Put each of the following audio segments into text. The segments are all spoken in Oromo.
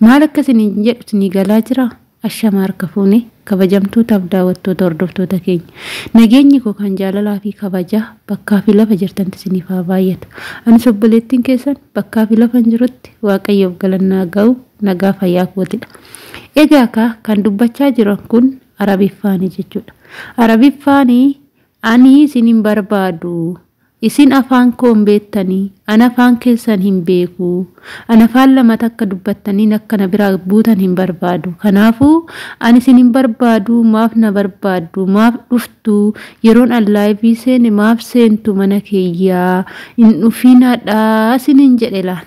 Maal akka isiniin jedhu isinii galaa jiraa? Ashamaa harka fuune kabajamtootaaf daawattoota hordoftoota keenya. Nageenyi koo kan jaalalaa fi kabajaa bakkaa fi lafa jirtanti isiniif haa baay'atu. Anis obboleettiin keessan bakkaa fi lafan jirutti waaqayyoof galannaa ga'u nagaa fayyaa kootidha. Egaa kaa kan dubbachaa jiran kun Arabiffaani jechuudha. Arabiffaani Ani isin hin barbaadu. Isin afaan koo hin beettani, ani afaan keessan hin beeku. Ani afaan lama takka dubbattanniin akka na biraa buutan hin barbaadu. Kanaafuu, ani isin hin barbaadu, maaf na barbaaddu, maaf dhuftu, yeroon an laayivii seene maaf seentu mana kiyya, hin dhufiinadha isiniin jedhe laal.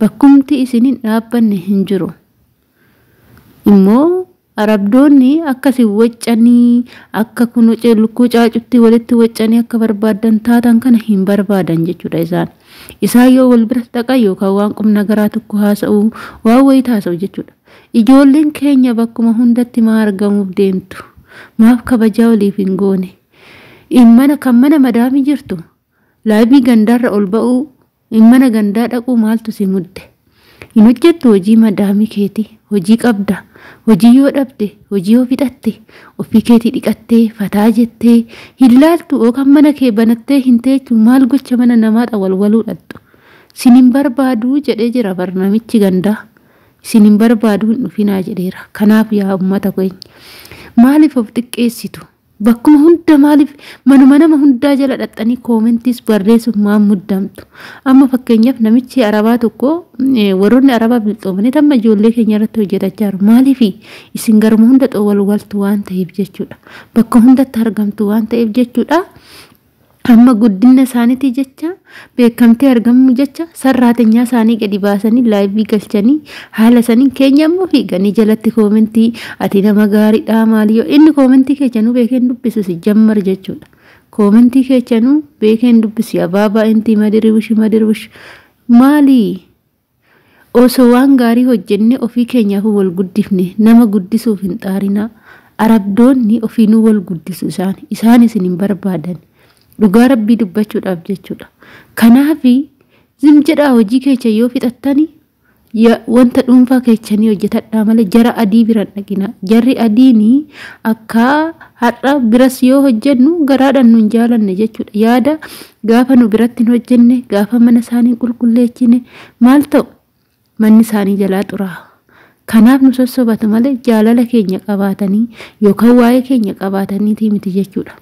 Bakkumti isin hin dhaabbanne hin jiru. Immoo Arabdoonni akka isin waccanii akka kuno ce- lukkuu caacuttii walitti waccanii akka barbaaddan taatan kana hin barbaadan jechuudha isaan. Isaan yoo wal bira dhaqan yookaan waan qum nagaraa tokko haasa'u waan wayita haasa'u jechuudha. Ijoolleen keenya bakkuma hundatti maa argamuuf deemtu? Maaf kabajaa waliif hin goone? In mana kan mana madaamii jirtu laayivii gandaarra ol ba'uu Mana gandaa dhaquu maaltu si mudde? Hin hojjettu hojii madaamii keetii? Hojii qabda? Hojii yoo dhabde hojii yoo fixatte ofii keetii dhiqattee fataa jettee hin laaltu oo kan mana kee banattee hin teechu maal gocha mana namaa xawalwaluu dhaqxu? Sin hin barbaadu jedhee jira bar namichi gandaa. Isin hin barbaadu hin dhufinaa jedheera. Kanaaf yaa ummata keenya maaliif of xiqqeessitu? Bakkuma hunda maaliif manuma nama hundaa jala dhaxxanii koomentiis barreessuuf maan muddamtu. Amma fakkeenyaaf namichi arabaa tokko eh, warroonni arabaa bilxoomanii amma ijoollee keenya irratti hojjetachaa jiru. Maaliif isin garuma hunda xowwalwaltu waan ta'eef jechuudha. Bakka hundatti argamtu waan ta'eef jechuudha. Amma guddinna isaanitii jecha, beekamtii argamuu jecha sarraatenyaa isaanii gadi baasanii laayivii galchanii haala saniin keenya immoo fiiganii jalatti koomentii ati nama gaariidhaa maali yoo inni koomentii keechanuu beekeen dubbisu si jammar jechuudha. Koomentii keechanuu beekeen dubbisu abaabaa intii madiriwishi madiriwishi maalii? Osoo waan gaarii hojjennee ofii keenyaafuu wal guddifne nama guddisuuf hin xaarinaa. Arabdoonni ofiinuu wal guddisu isaan. Isaan isin hin barbaadani. Dhugaa Rabbii dubbachuudhaaf jechuudha. Kanaafi zim jedhaa hojii keechan yoo fixattani ya- wanta dhuunfaa keechanii hojjetadhaa malee jara adii bira hin dhaqinaa. Jarri adiini akka har'a biras yoo hojjennu garaadhaan nun jaalanne jechuudha. Yaada Gaafa nu biratti hin hojjenne, gaafa mana isaanii hin qulqulleechine maal ta'u? Manni isaanii jalaa xuraa'a. Kanaaf nu sossobatu malee jaalala keenya qabaatanii yookaan waa'ee keenya qabaataniitii miti jechuudha.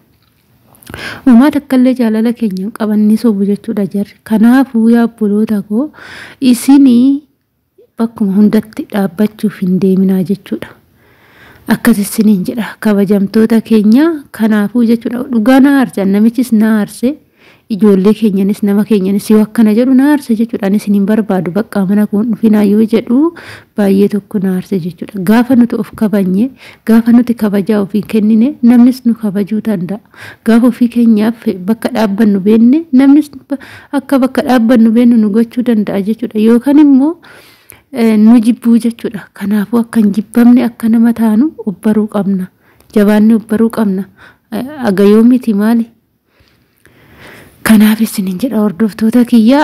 Homaa takkallee jaalala keenya hin qaban ni sobu jechuudha jarri. Kanaafuu yaa obboloota koo isinii Bakkuma hundatti dhaabbachuuf hin deeminaa jechuudha. Akkas issiniin jedha kabajamtoota keenya kanaafuu jechuudha dhugaa na aarse namichis na aarse ijoollee keenyanis nama keenyanis yoo akkana jedhu na aarse jechuudha ani isiniin barbaadu baqqaa mana koo hin dhufinaa yoo jedhu baay'ee tokko na aarse jechuudha gaafa nuti of kabanye gaafa nuti kabajaa ofii kennine namnis nu kabajuu danda'a. Gaafa ofii keenyaaf bakka dhaabbannu beenne namnis akka bakka dhaabbannu beennu nu gochuu danda'a jechuudha. Yookaan immoo nu jibbuu jechuudha. Kanaafuu akka hin jibbamne akka nama taanu obbaruu qabna. Jabaanni obbaruu qabna. Aga yoo miti maali? Kanaaf isiniin jedha hordoftoota kiyya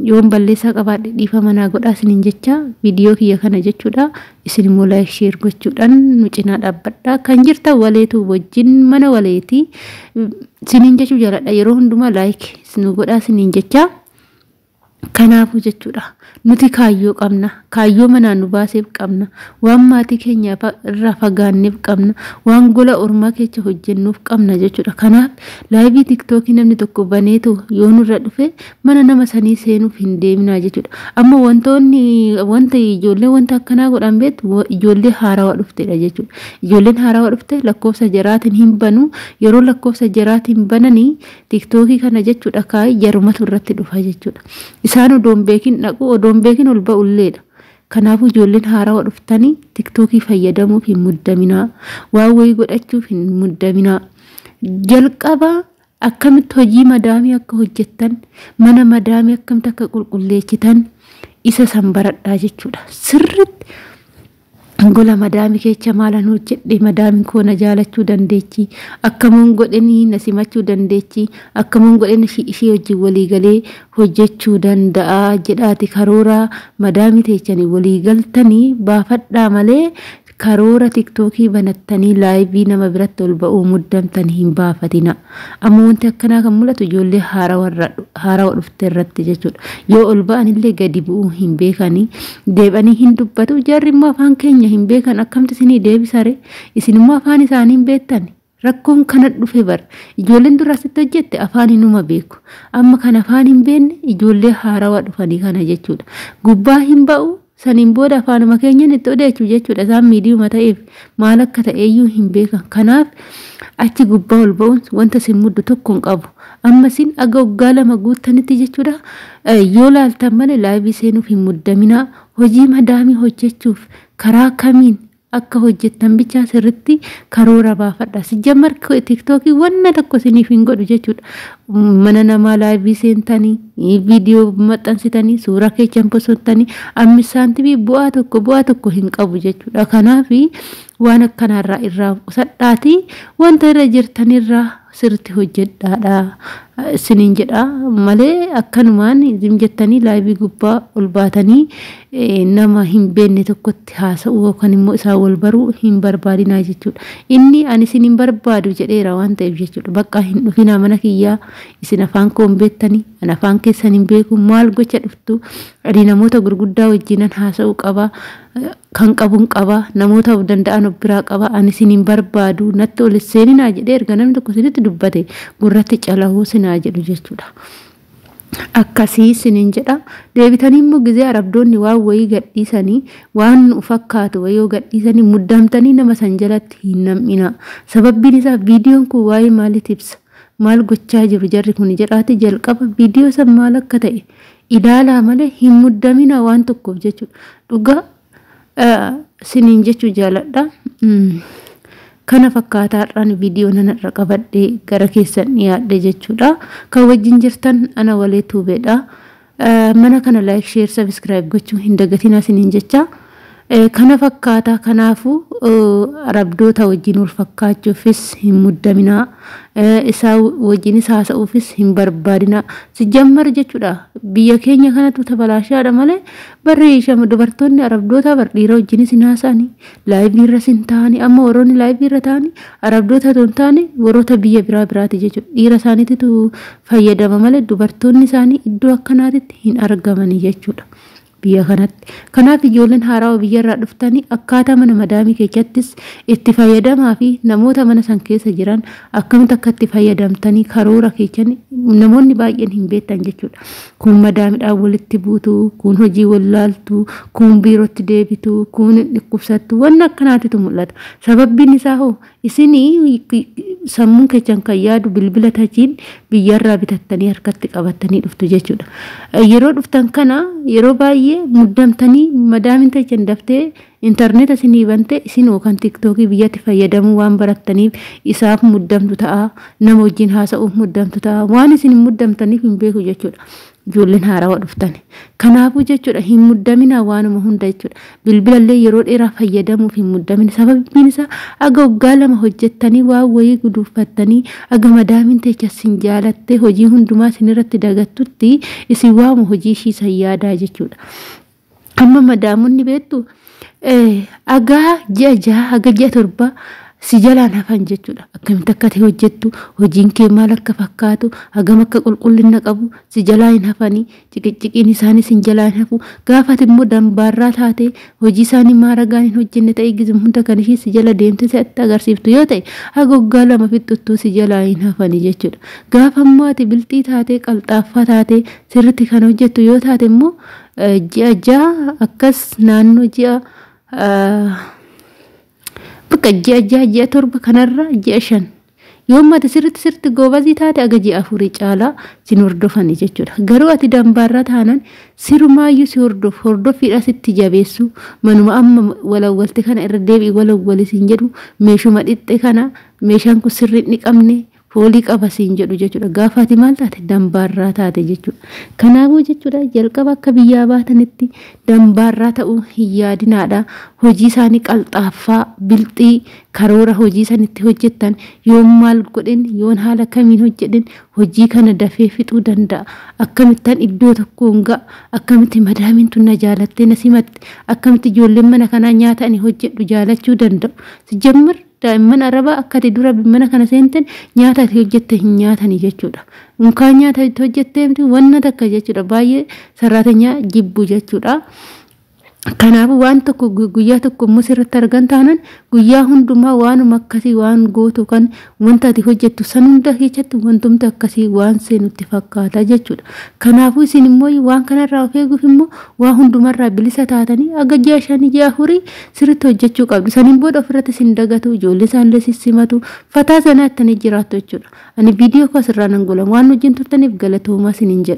yoon balleessaa qabaadhe dhiifama naa godhaa isiniin jecha viidiyoo kiyya kana jechuudha. Isin immoo like share gochuudhaan nu cinaa dhaabbadha. Kan jirtan waleetu wajjin mana waleeti siniin jechuu jaaladha. Yeroo hundumaa like nu godhaa siniin jechaa. Kanaafuu jechuudha nuti kaayyoo qabna kaayyoo manaa nu baaseef qabna waan maatii keenya irraa fagaanneef qabna waan gola ormaa keessa hojjennuuf qabna jechuudha kanaaf laayivii tiktookii namni tokko baneetu yoo nurra dhufe mana nama sanii seenuuf hin deeminaa jechuudha. Amma wantoonni wanta ijoollee wanta akkanaa godhan beektu wa- ijoollee haarawaa dhuftedha jechuudha. Ijoolleen haarawaa dhufte lakkoofsa jaraatiin hin banu yeroo lakkoofsa jaraatiin bananii tiktookii kana jechuudha kaayii jarumatu irratti dhufa jechuudha. Isaan odoon beekin dhaqu odoon beekin ol ba'ulleedha. Kanaafuu ijoolleen haarawaa dhuftanii tiktookii fayyadamuuf hin muddaminaa. Waan wayii godhachuuf hin muddaminaa. Jalqaba Akkamitti hojii madaamii akka hojjettan, mana madaamii akkamitti akka qulqulleessitan isa san baradhaa jechuudha. Sirriitti gola madaamii keessa maalan hojjedhe, madaamiin koo na jaalachuu dandeechi, akkamuun godhanii na simachuu dandeechi, akkamuun godhanii ishii ishii wajjin walii galee hojjechuu danda'a jedhaati karooraa madaamii teessanii walii galtanii baafadhaa malee Karoora tiktookii banattanii laayivii nama biratti ol ba'uu muddamtan hin baafatinaa. Amma wanti akkanaa kan mul'atu ijoollee haarawa dhufte irratti jechuudha. Yoo ol ba'anillee gadi bu'uu hin beekani. Deeb'anii hin dubbatu. Jarri immoo afaan keenya hin beekan akkamti isinii deebisare? Isin immoo afaan isaanii hin beektani? Rakkoon kana dhufe bar. Ijoolleen dura asitti hojjette afaan inuma beeku. Amma kan afaan hin beekne ijoollee haarawaa dhufanii kana jechuudha. Gubbaa hin ba'u saniin booda afaanuma keenyan itti odeechu jechuudha. Isaan miidiyuma ta'eef maal akka ta'eeyyuu hin beekan. Kanaaf achi gubbaa ol ba'uun wanta sin muddu tokko hin qabu. Amma sin aga waggaa lama guuttanitti jechuudha. Yoo laaltan malee laayivii seenuuf hin muddaminaa. Hojii madaamii hojjechuuf karaa kamiin akka hojjettan bichaa sirritti karoora baafadha. Sijjammar tiktookiin wanna tokko isiniif hin godhu jechuudha. Mana namaa laayivii seentanii, viidiyoo maxxansitanii, suuraa keechan posottanii, ammis saantimii bu'aa tokko bu'aa tokko hin qabu jechuudha. Kanaaf waan akkanaarraa irraa of qusadhaatii wanta irra jirtanirraa sirritti hojjedhaadha isiniin jedha malee akkanumaan zim jettanii laayivii gubbaa ol baatanii nama hin beenne tokkotti haasa'uu yookaan immoo isaa wal baruu hin barbaadinaa jechuudha. Inni ani isin hin barbaadu jedheera waan ta'eef jechuudha. Baqqaa hin dhufinaa mana kiyyaa isin afaan koo hin beektanii an afaan keessan hin beeku maal gocha dhuftu ani namoota gurguddaa wajjinan haasa'uu qaba Kan qabun qaba, namoota of danda'an of biraa qaba, ani isin hin barbaadu, natti ol hin seeninaa jedhee erga namni tokko isinitti dubbate gurratti calahuu sin haa jedhu jechuudha. Akkasii isiniin jedha. Deebitanii immoo gizee Arabdoonni waan wayii gadhiisanii waan nu fakkaatu wayii yoo gadhiisanii muddamtanii nama san jalatti hin nam'inaa. Sababbiin isaa viidiyoon kun waa'ee maaliit ibsa? Maal gochaa jiru jarri kun jedhaati jalqaba viidiyoo san maal akka ta'e ilaalaa malee hin muddaminaa waan tokkoof jechuudha. Dhugaa siniin jechuu jaaladha. Kana fakkaata har'aan viidiyoo nana irra qabadhee gara keessan dhiyaadhe jechuudha. Kan wajjin jirtan ana walee tuubeedha. Mana kana laayik sheer sabiskiraayib gochuu hin dagatinaa siniin jecha. Kana fakkaata. Kanaafuu, Arabdoota wajjin wal fakkaachuufis hin muddaminaa. Isaa wajjinis haasa'uufis hin barbaadinaa. Sijjammar jechuudha biyya keenya kanatu tabalaashaadha malee barri shama dubartoonni Arabdootaa bar dhiira wajjinis hin haasa'ani. Laayivii irras hin taa'ani. Amma warroonni laayivii irra taa'ani Arabdoota otoo hin taane warroota biyya biraa biraati jechuudha. Dhiira isaaniititu fayyadama malee dubartoonni isaanii iddoo akkanaatitti hin argamani jechuudha. biyya kanatti. Kanaaf ijoolleen haarawa biyya irraa dhuftani akkaataa mana madaamii keechattis itti fayyadamaa fi namoota mana san keessa jiran akkamitti akka itti fayyadamtanii karoora keechani namoonni baay'een hin beektan jechuudha. Kuun madaamidhaan walitti buutu, kuun hojii wallaaltu, kuun biirootti deebitu, kuun hin dhukkubsattu wanna akkanaatitu mul'ata. Sababbiin isaa hoo Isin sammuun keessan kan yaadu bilbila tachiin biyyarraa bitattanii harkatti qabattanii dhuftu jechuudha. Yeroo dhuftan kana yeroo baay'ee muddamtanii madaamin tachan daftee intarneeta isinii bante isin yookaan tiktookii biyyatti fayyadamuu waan barattaniif isaaf muddamtu ta'a. Nama wajjin haasa'uuf muddamtu ta'a. Waan isin muddamtaniif hin beeku jechuudha. ijoolleen haarawa dhuftani. Kanaafuu jechuudha hin muddaminaa waanuma hunda jechuudha. Bilbilallee yeroo dheeraa fayyadamuuf hin muddamina. Sababiin isaa aga waggaa lama hojjettanii waan wayii guduuffattanii aga madaamiin teecha sin jaalattee hojii hundumaa sin irratti dagattutti isin waama hojii ishii san yaadaa jechuudha. Amma madaamonni beektu agaa ji'a jaha haga ji'a torba si jalaan hafan jechuudha. Akkamitti akka ta'e hojjettu hojiin kee maal akka fakkaatu hagam akka qulqullina qabu si jalaa hin hafanii ciqicciqiin isaanii sin jalaa hin hafu gaafati immoo dambaarraa taate hojii isaanii maaragaan hin hojjenne ta'e gizim hunda kan ishii si jala deemte si'atti agarsiiftu yoo ta'e haga waggaa lama fixxuttuu si jalaa hin hafanii jechuudha. Gaafa immoo ati bilxii taatee qalxaaffaa taatee sirritti kan hojjettu yoo taate immoo ji'a ja'a akkas naannoo ji'a bakka ji'a ja'a ji'a torba kanarra ji'a shan yoomma ati sirritti sirritti goobazii taate aga ji'a afurii caalaa sin hordofani jechuudha garuu ati dambaarra taanan sirumaayyuu si hordof hordoffiidha sitti jabeessu manuma amma walawwalte kana irra deebi'i walawwali sin jedhu meeshuma dhixxe kana meeshaan kun sirriin dhiqamne foolii qaba siin jedhu jechuudha. Gaafa ati maal taate dambaarraa taate jechuudha. Kanaafuu jechuudha jalqaba akka biyyaa baatanitti dambaarraa ta'uu hin yaadinaadha. Hojii isaanii qalxaaffaa, bilxii, karoora hojii san itti hojjettan yoon maal godhin yoon haala kamiin hojjedhin hojii kana dafee fixuu danda'a. Akkamittan iddoo tokkoon ga'a akkamitti madaamiin tun na jaalattee na simatte akkamitti ijoolleen mana kanaa nyaata ani hojjedhu jaalachuu danda'u. Sijjammar Daa'imman Arabaa akka ati dura mana kana seenten nyaata ati hojjette hin nyaatani jechuudha. Unkaan nyaata itti hojjettee miti wanna takka jechuudha. Baay'ee sarraatenyaa jibbu jechuudha. Kanaafuu waan tokko guyyaa tokko immoo sirratti argan taanan guyyaa hundumaa waanuma akkasii waan gootu kan wanta ati hojjettu san hunda keessatti wantumti akkasii waan seenutti fakkaata jechuudha. Kanaafuu isin immoo waan kanarraa of eeguuf immoo waa hundumarraa bilisa taatanii aga ji'a shanii ji'a afurii sirritti hojjechuu qabdu saniin booda ofirratti sin dagatu ijoollee isaanillee sin simatu fataa zanaa ittanii jiraattu jechuudha ani viidiyoo koo asirraa nan gola waan wajjin turtaniif galatoomaa sinin jedha